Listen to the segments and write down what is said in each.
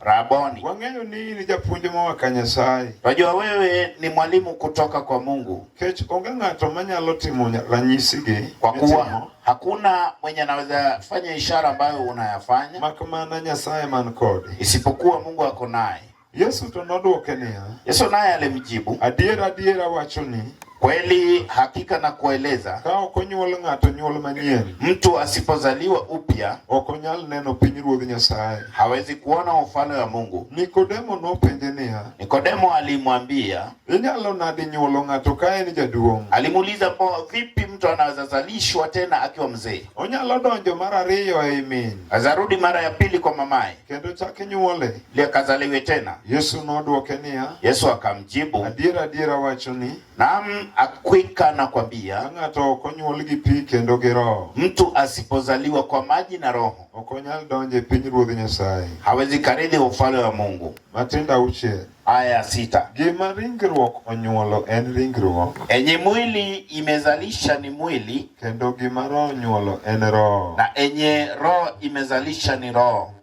Raboni. Wang'eyo ni in japuonj moa ka Nyasaye. Twajua wewe ni mwalimu kutoka kwa Mungu. Kech onge ng'ato manyalo timo ranyisigi. Kwa kuwa hakuna mwenye anaweza fanya ishara ambayo unayafanya. Makamana Nyasaye man kode. Isipokuwa Mungu ako naye. Yesu to nodwoke niya. Yesu naye alimjibu. Adiera adiera wachoni. Kweli hakika na kueleza, ka ok onyuol ng'ato nyuol manyien, mtu asipozaliwa upya ok onyal neno pinyruodh Nyasaye, hawezi kuona ufalme wa Mungu. Nikodemo nopenje niya, Nikodemo alimwambia, inyalo nadi nyuolo ng'ato ka en jaduong'? Alimuuliza, po vipi mtu anaweza zalishwa tena akiwa mzee? Onyalo donjo mara ariyo ei min, azarudi mara ya pili kwa mamaye, kendo chak nyuole likazaliwe tena? Yesu nodwoke niya, Yesu akamjibu, adiera adiera awachoni, naam, hakika nakwambia, ka ng'ato ok onywol gi pi kendo gi Roho, mtu asipozaliwa kwa maji na Roho ok onyal donjo e pinyruodh Nyasaye. hawezi karithi ufalme wa Mungu. Matindo auchiel. Aya ya sita, Gima ringruok onywolo en ringruok, enye mwili imezalisha ni mwili, kendo gima Roho onywolo en roho. na enye roho imezalisha ni roho.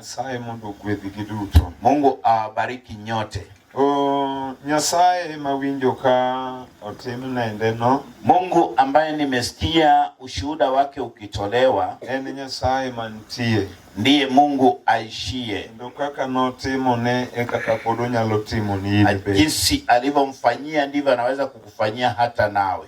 Nyasaye mondo ogwedhgi duto. Mungu awabariki nyote. O Nyasaye mawinjo ka otim nendeno. Mungu ambaye nimesikia ushuhuda wake ukitolewa. En Nyasaye mantie. Ndiye Mungu aishie. Kendo kaka notimo ne e kaka pod onyalo timo ni. Jinsi alivyomfanyia ndivyo anaweza kukufanyia hata nawe.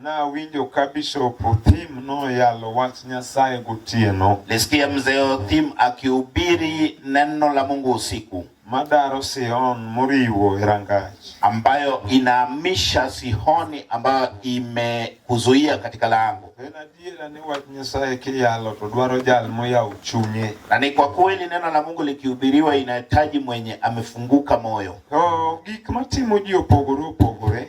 Nawinjo ka Bishop Othim noyalo wach Nyasaye gotieno. Nisikia mzee Othim akihubiri neno la Mungu usiku. Madaro Sion moriwo Erangach. Ambayo inahamisha Sihoni ambayo imekuzuia katika lango. En adiera ni wach Nyasaye kiyalo to dwaro jal moyawo chunye. Na ni kwa kweli neno la Mungu likihubiriwa inahitaji mwenye amefunguka moyo. To gik matimo ji opogore opogore.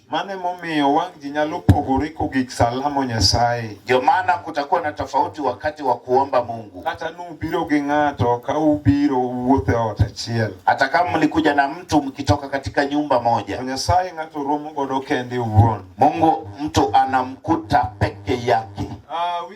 Mane momiyo wang' ji nyalo pogore kogik salamo Nyasaye. Ndio maana kutakuwa na tofauti wakati wa kuomba Mungu. Kata nubiro gi ng'ato ka ubiro wuothe ot achiel. Hata kama mlikuja na mtu mkitoka katika nyumba moja. Nyasaye ng'ato romo godo kende uwuon. Mungu mtu anamkuta peke yake. Uh, we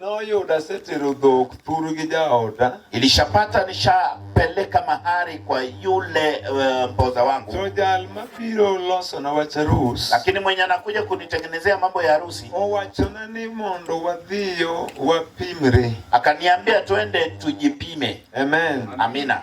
Noyudo asetero dhok thuru gi jaoda. Ilishapata nishapeleka mahari kwa yule uh, mpoza wangu. To jal mabiro losona wach arus. Lakini mwenye anakuja kunitengenezea mambo ya harusi. Owachona ni mondo wadhiyo wapimre. Akaniambia twende tujipime. Amen. Amina.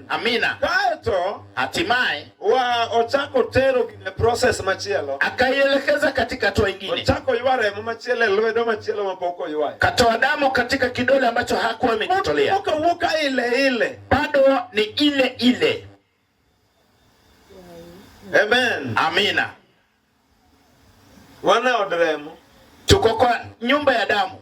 Amina. Kaeto hatimaye wa ochako tero gine process machielo, akaielekeza katika hatua ingine, ochako ywa remo machielo e lwedo machielo mapok oywayo, katoa damu katika kidole ambacho hakuwa amejitolea, okawuoka ile ile, bado ni ile ile. Amen. Amina. Wana od remo, tuko kwa nyumba ya damu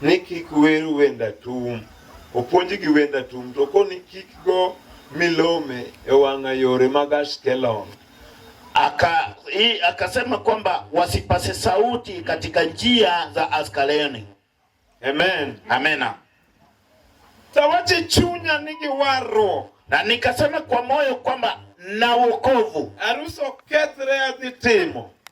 ni kik wer wend atum, opuonj gi wend atum to koni kik go milome e wang'a yore mag Ashkelon. Aka, i, akasema kwamba wasipase sauti katika njia za Askaleni. Amen. Amena. Tawache chunya nigi warruok. Na nikasema kwa moyo kwamba na wokovu. Aruso kethre adhi timo.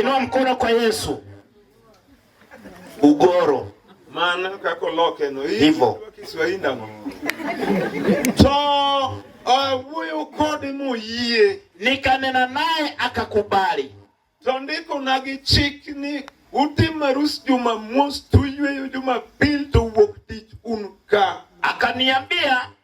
Inua mkono kwa Yesu. Ugoro mana kaka oloke no hivyo Kiswahili ndano to awuoyo kode moyie, nikanena naye akakubali. To ndiko na gi chik ni utim arus Jumamos, tuyweyo Jumapili to wuok tich un ka. Akaniambia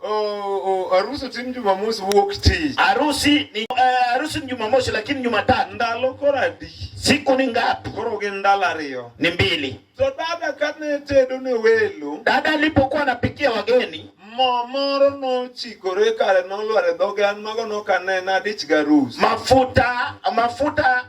Oh, oh, harusi oh, ni Jumamosi wuok tich. Harusi ni uh, harusi ni Jumamosi lakini Jumatatu. Ndalo kora di. Siku ni ngapi? Koro gin ndalo ariyo. Ni mbili. So dada kane tedo ne welo. Dada alipokuwa anapikia wageni. Mo moro nochikore kare nolware dhoge an mago nokanena dich garus. Mafuta mafuta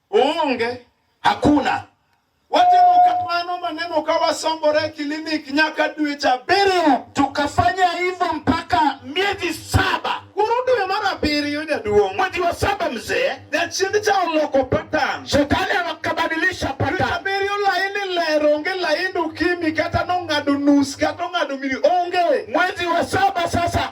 Uunge hakuna watimo kamano maneno ka wasombore klinik nyaka dwe cha abiriyo. Tukafanya hivyo mpaka miezi saba. Koro dwe mar abiriyo jaduong', mwezi wa saba mzee, jachinde cha oloko patan, shetani akabadilisha patan. Abiriyo laini lero onge laini ukimi kata nong'ado nus kata ong'ado mili onge. Mwezi wa saba sasa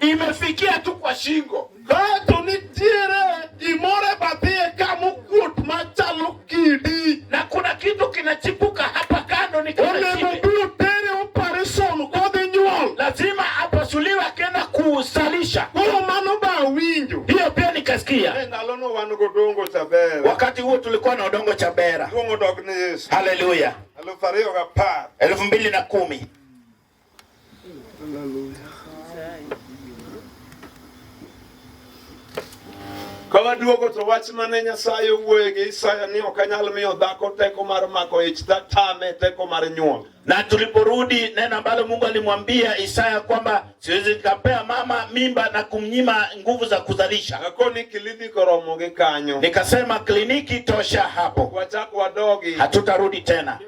imefikia tu kwa shingo. Dhatu nitiere gimore badhie ka mukuot machalo kidi, na kuna kitu kinachipuka hapa kando ni kama onego kidi. biro tere operation kodhi nyuol Lazima apasuliwe akienda kuzalisha. koro mano ba awinjo Hiyo pia nikasikia. E ndalono wan godongo chabera. Wakati huo tulikuwa na odongo cha bera. Duong' odog ne Yesu. Haleluya, Alufu ariyo gapar. elfu mbili na kumi. Kawaduogo to wach mane Nyasaye owuoye gi Isaya ni ok anyal miyo dhako teko mar mako ich, tatame teko mar nyuol. Na tuliporudi neno ambalo Mungu alimwambia Isaya kwamba siwezi nikapea mama mimba na kumnyima nguvu za kuzalisha. Akoni kliniki koromo gi kanyo. Nikasema kliniki tosha hapo. Wachako wadogi. Hatutarudi tena.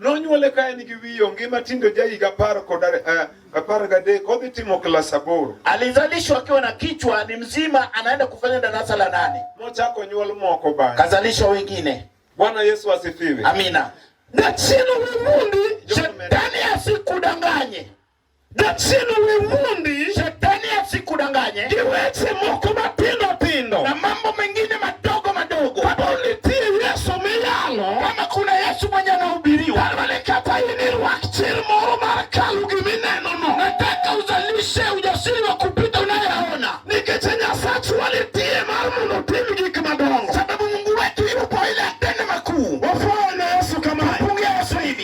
Nonyuole ka en gi wiye onge matindo ja higa apar kod eh, apar gadek odhi timo klas aboro. Alizalishwa akiwa na kichwa ni mzima, anaenda kufanya darasa la nane. Nochako nyuol moko bang'e, kazalisha wengine. Bwana Yesu asifiwe, amina. Na chino Mungu shetani asikudanganye. Jachieni wiwundi, shetani asikudanganye, gi weche moko matindo tindo na mambo mengine madogo madogo. Kama unitie Yesu miyalo, kama kuna Yesu mwenye anahubiriwa, kama nikata ini rwak chir moro mar kalu gimineno no, nataka uzalishe ujasiri wa kupita unayeona nikeche Nyasachu walitie mar mondo tim gik madongo, sababu Mungu wetu yupo ile atende makuu. Wafuane Yesu kama pungia Yesu hivi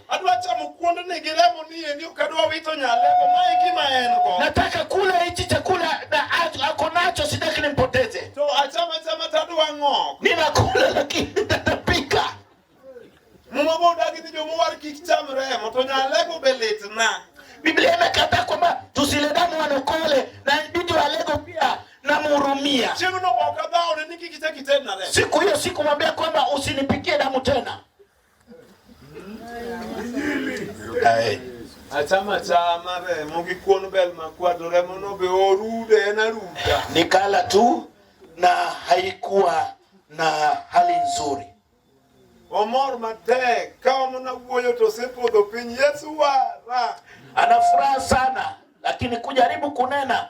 Adwa chamo kuond ni gi remo ni endi ok adwa wito nyalego. Ma e gima en go. Nataka kula hichi chakula na a- ako nacho, sitaki nimpoteze. To achama chama to adwa ng'ok. Ninakula lakini nitatapika. Muma bo odagi ni jomowar kik cham remo to nyalego be litna. Biblia imekataa kwamba tusile damu wanokole, na inabidi walego pia namhurumia. Chieng'no ok adhawne ni kik ichak itedna remo. Siku hiyo sikumwambia kwamba usinipikie damu tena. achama chama remo gi kuon bel makwado remo no be orude en aruda nikala tu na haikuwa na hali nzuri omor matek ka omo na wuoyo to osepodho piny yesu wara ana furaha sana lakini kujaribu kunena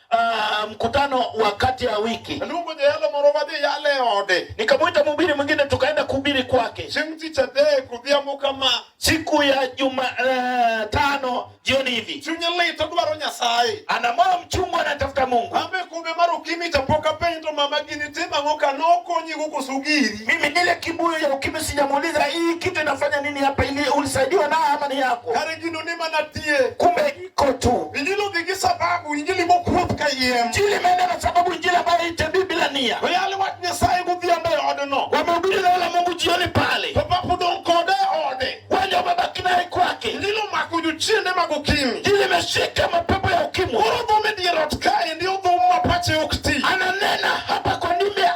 Uh, mkutano wa kati ya wiki lungo jeyalo moro wadhi yale ode nikamwita mhubiri mwingine tukaenda kuhubiri kwake chieng' tich adek odhiambo kama siku ya juma uh, tano jioni hivi chunye lit odwaro nyasaye ana moyo mchungu anatafuta mungu ambe kumbe mar ukimi chapok apenj to mama gini tim ang'o ka nokonyi kukusugiri mimi nile kibuyu ya ukimi sijamuuliza hii kitu inafanya nini hapa ili ulisaidiwa na ama ni yako kare gino ni mana tie kumbe kotu. Injili dhigi sababu injili mokuoth ka yiem. Injili imeenda na sababu injili ambayo itebi bila nia. Oyali wach Nyasaye godhiambo e odno. Wamehubiri neno la Mungu jioni pale. To pap udong' kode e ode. Wale wamebaki naye kwake. Injili omako jochiende mag ukimwi. Injili imeshika mapepo ya ukimwi. Koro dhum e dier ot kae ndio dhum ma pache ok ti. Ananena hapa kwa ndimi ya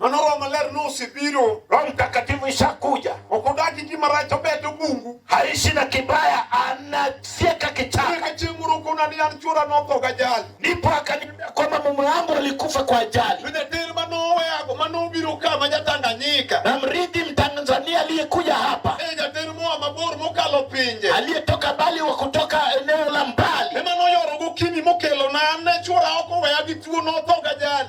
Mano Roho Maler nosebiro, Roho Mtakatifu ishakuja. Ok odak gi gima rach obet obungu. Haishi na kibaya, anafyeka kichaka. Eka chieng' moro okona ni an chwora notho gajali. Ndipo akaniambia kwamba mume wangu alikufa kwa ajali. Jatelo manoweyago manobiro ka ma Jatanganyika. Na mrithi Mtanzania aliyekuja hapa, E jatelo moa mabor mokalo pinje. aliyetoka mbali wa kutoka eneo la mbali, Ema noyoro gokinyi mokelo na an ne chwora ok oweya gi tuo notho gajali.